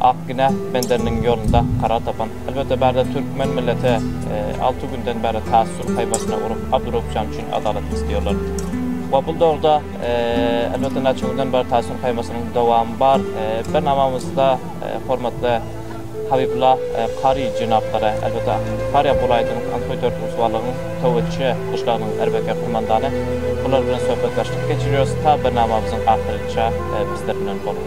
Ak günä Benderiniň ýolunda karar tapan, elbetde bärde türkmen milleti alty günden bäri taassur paýbasyna urup Abdurraupjan üçin adalat isleýärler. We bul dogruda elbetde näçe günden bäri taassur paýbasynyň dowamy bar. Bilen amamyzda hormatly Habibulla Kary jenaplara, elbetde Farýap welaýatynyň Antoý Dörtgusybalygyň Töwetçi gyşlagynyň erbekär kumandany bular bilen söhbetdeşlik geçirýäris ta birnamamyzyň ahyryça bizler bilen boluň.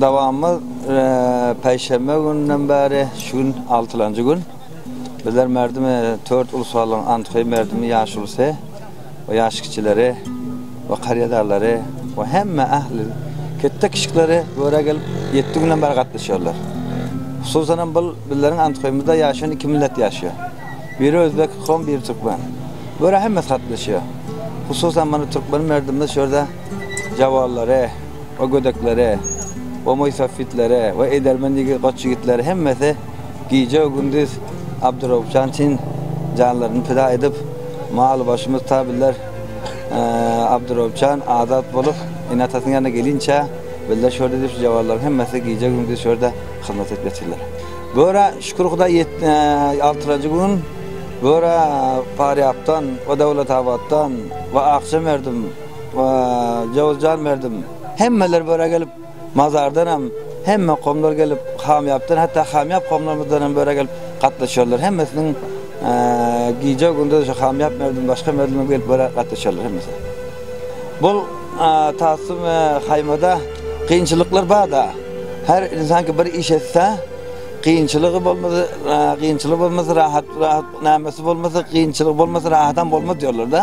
Dawamymyz päişenbe gününden bäri şu gün altylanjy gün. Bizler merdimi Tört ulus halyň antyky merdimi ýaşulusy we ýaş kiçileri we karýadalary we hemme ähli ketde kişikleri bu ýere gelip ýetti günden bäri gatnaşýarlar. Hususan hem bul bizleriň antykymyzda ýaşan iki millet ýaşýar. Biri özbek, kom biri türkmen. Bu ýere hemmesi gatnaşýar. Hususan mana türkmen merdimimiz şu ýerde Jawallary we gödekleri we moýsafitleri we edermen ýigit goç ýigitleri hemmesi gije we gündiz Abdyrawupjan üçin janlaryny pida edip maly başymyz tabiller Abdyrawupjan azat bolup ene atasynyň ýanyna gelinçä bizler şurda edip şu jawallary hemmesi gije gündiz şurda hyzmat edip ýatyrlar göra şükür hudaý altyranjy gün göra parýapdan we dowlatabatdan we akja merdim Jowuzjan Merdim, Hemmeler böre gelip, mazardanam, hemme komlar gelip, hamýapdan, hatda hamýap komlarymyzdanam böre gelip gatnaşýarlar. Hemmesiniň gije gündüz şu hamýap Merdim, başga Merdimem gelip böre gatnaşýarlar hemmesi. Bu tassym haýmada kynçylyklar bar-da. Her ynsan ki bir iş etse, kynçylygy bolmasa, kynçylygy bolmasa rahat, rahat, nämesi bolmasa, kynçylygy bolmasa rahatam bolmaz diýerler-de.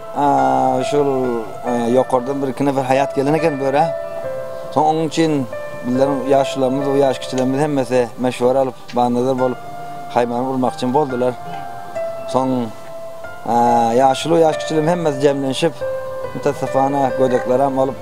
Şol ýokardan birki nefer haýat gelen eken bu ýere. Soň onuň üçin bizleriň ýaşularymyz we ýaş kiçilerimiz hemmesi meşwara alyp, banazar bolup, haýmany gurmakçy boldular. Soň ýaşuly we ýaş kiçilerimiz hemmesi jemlenşip, mutassapana gödekleram bolup,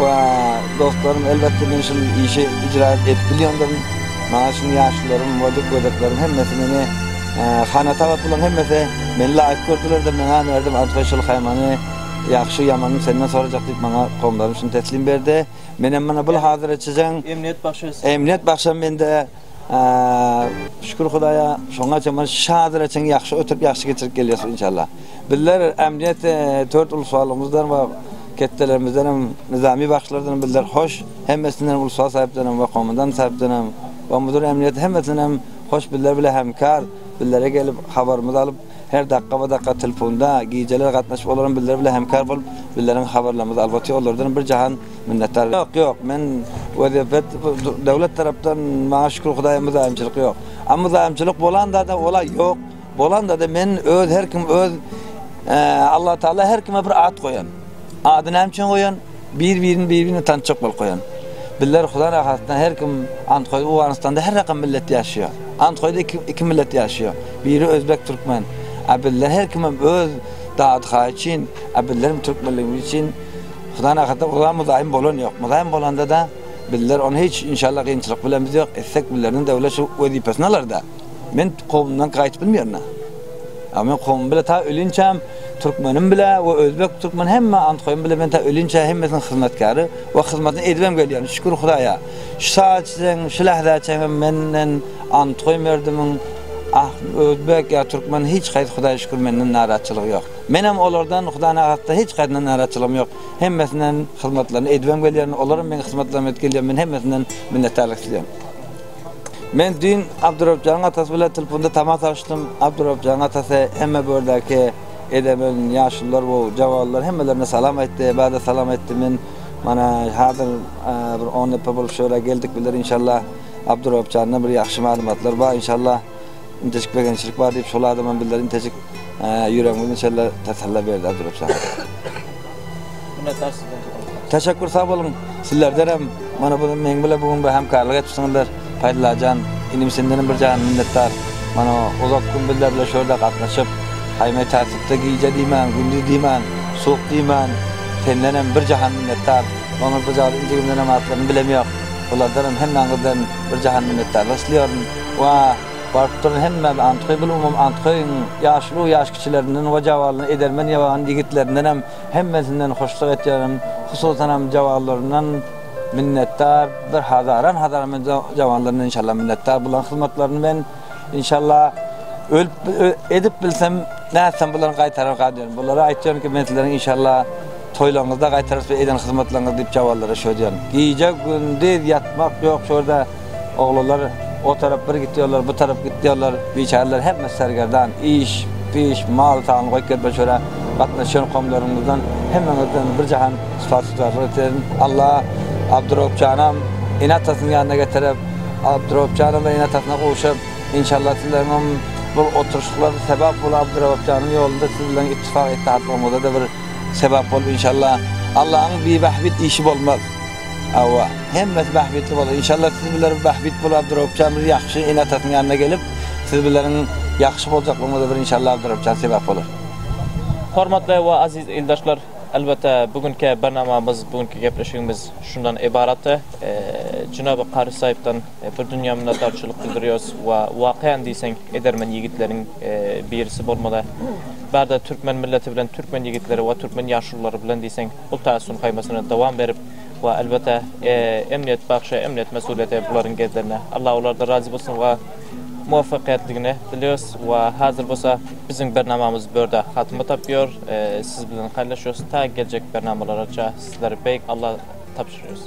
We dostlarym elbetde men şul işi ijra edip bilýändirin. Maňa çyn ýaşlarym we dykgözekleriň hemmesi meni hana tabat bulan hemmesi meni laýyk gördülerdir meňa merdim Adhoý şul haýmany ýagşy ýamanyny senden sorajak diýip maňa gowumlarym şuny teslim berdi. Menem mana bul hazyr etjijäň emniýet bagşysy emniýet bagşam mende. Şükür Hudaýa şoňa çenli şadyr çenli ýagşy oturyp ýagşy geçirip gelýäs inşallah. Bizler ämdiýet dört uluslarymyzdan we ketdelerimizden hem nyzamy bagşylardan bizler hoş hemmesinden uluslar saýypdan hem we komandan saýypdan hem we müdir ämdiýet hemmesinden hem hoş bizler bilen hemkar bizlere gelip habarymyzy alyp her dakga we dakga telefunda gijeler gatnaşyp olar hem bizler bilen hemkar bolup bizleriň habarlarymyzy albaty olardan bir jahan Minnetdar ýok ýok men wezepet döwlet tarapdan maňa şükür hudaýa myzaýymçylyk ýok. A myzaýymçylyk bolandada ola ýok bolandada men öz her kim öz Allah taala her kime bir at goýan. Ady näme üçin goýan bir birini bir birini tançak bolup goýan. Bizler hudaý rahatdan her kim Antgoý Owganystanda her rakam millet ýaşaýar. Antgoýda iki iki millet ýaşaýar. Biri özbek türkmen. A bizler her kimem öz dady haýy üçin a bizler türkmenligimiz üçin Hudaýyň arkasyna gurban myzaýym bolan ýok. Myzaýym bolanda-da bizler ony hiç inşallah gynçylyk bilen biz ýok etsek bizlerden döwlet şu wezipesini alarda. Men kowumdan gaýyp bilmeýärna. A men kowum bile ta ölinçäm türkmenim bile we özbek türkmen hemme antkoýum bile men ta ölinçä hemmesiniň hyzmatkäri we hyzmatyny edibem gelýän şükür hudaýa. Şu sagat çen şu lähzä çenli menden antkoýum erdimiň ah özbek ýa türkmen hiç haýsy hudaýa şükür menden narazçylygy ýok. Menem olardan hudanagastdan hiç haýsyna naraçylygym ýok. Hemmesinden hyzmatlaryny edibem gelýärin, olaram meň hyzmatlarymy edip gelýär, men hemmesinden minnetdarlyk isleýän. Men düýn Abdurabjanyň atasy bilen telponda tama salşdym. Abdurabjanyň atasy hemme bu ýerdäki edemen, ýaşulular we jawalylar hemmelerine salam aýtdy, bada salam aýtdy. Men mana hazir bir on nepe bolup şu ýere geldik biler inşallah. Abdurabjanda bir ýagşy maglumatlar bar inşallah. Intejik begençlik bar diýip şol adamam bildir intejik ýüregimiz inşalla tasalla berdi Abdurap Şah. Minnetdar sizden köp. Teşekkür sag boluň. Sizlerdenem mana bu meň bilen bu gün bir hemkarlyk etipsiňizler. Paýdulajan inim sendenem bir jan minnetdar. Mana uzak gün bizler bilen şu ýerde gatnaşyp, haýmay tartykda gije diýmän, gündiz diýmän, suwuk diýmän sendenem bir jahan minnetdar. Maňa bu jaly injigimdenem atlaryny bilemýok. Bulardanam hemmäňizden bir jahan minnetdarlyk isleýärin. Wah, baryp durun hemmäm Antgybul umum Antgyň ýaşuly ýaş kiçilerinden we jawalyny edermen ýaban ýigitlerdendenem hemmesinden hoşluk etýärin, hususanam jawanlaryndan minnetdar bir hazaran hazaran men jawanlaryndan inşallah minnetdar bularyň hyzmatlaryny men inşallah ölüp edip bilsem nätsem bularyň gaýtararka diýen bulara aýtýan ki men sizleriň inşallah toýlaryňyzda gaýtarys biz eden hyzmatlaryňyzy diýip jawanlara şo diýen gije gündiz ýatmak ýok şo ýerde Oglanlar o tarap bir gitýärler, bu tarap gitýärler. Biçäreler hemmesi sergerdan. Iş, piş, mal sany goýup gelip şora gatnaşýan komlarymyzdan hemmeňizden bir jahan sypat-şygrarlyk ederin. Alla Abdyrobjanam ene-atasynyň ýanyna getirip, Abdyrobjanam da ene-atasyna gowşup, inşallah sizleriňem bu oturyşyklar sebap bolup Abdyrobjanyň ýolunda siz bilen ittifak-ittihatlygyňyza-da bir sebap bolup inşallah. Allanyň bibähbit işi bolmaz. Hawa, hemmesi bähbitli bolar. Inşallah siz biler bähbit bol Abdurabupjan bir ýagşy ene atasynyň ýanyna gelip siz bileriň ýagşy boljaklygyňyza bir inşallah Abdurabupjan sebäp bolar. Hormatly we aziz ildaşlar elbetde bu günki barnamamyz bu günki gepleşigimiz şundan ybaratdy. Jynaby Kary Saipdan bir dünýä minnetdarçylyk bildirýos we wakaýan diýseň edermen ýigitleriň birisi bolmaly. Bärde türkmen milleti bilen türkmen ýigitleri we türkmen ýaşululary bilen diýseň Hut has şonuň haýmasyna dowam berip we elbetde emniýet bagşy emniýet mesulyýeti bularyň gezlerinde. Allah olardan razy bolsun we muwaffakyýetligini dileýos we hazir bolsa biziň bernamamyz bu ýerde hatyma tapýar. Siz bilen haýlaşýas ta geljek bernamalargaça sizleri beýik Allah tabşyrýas.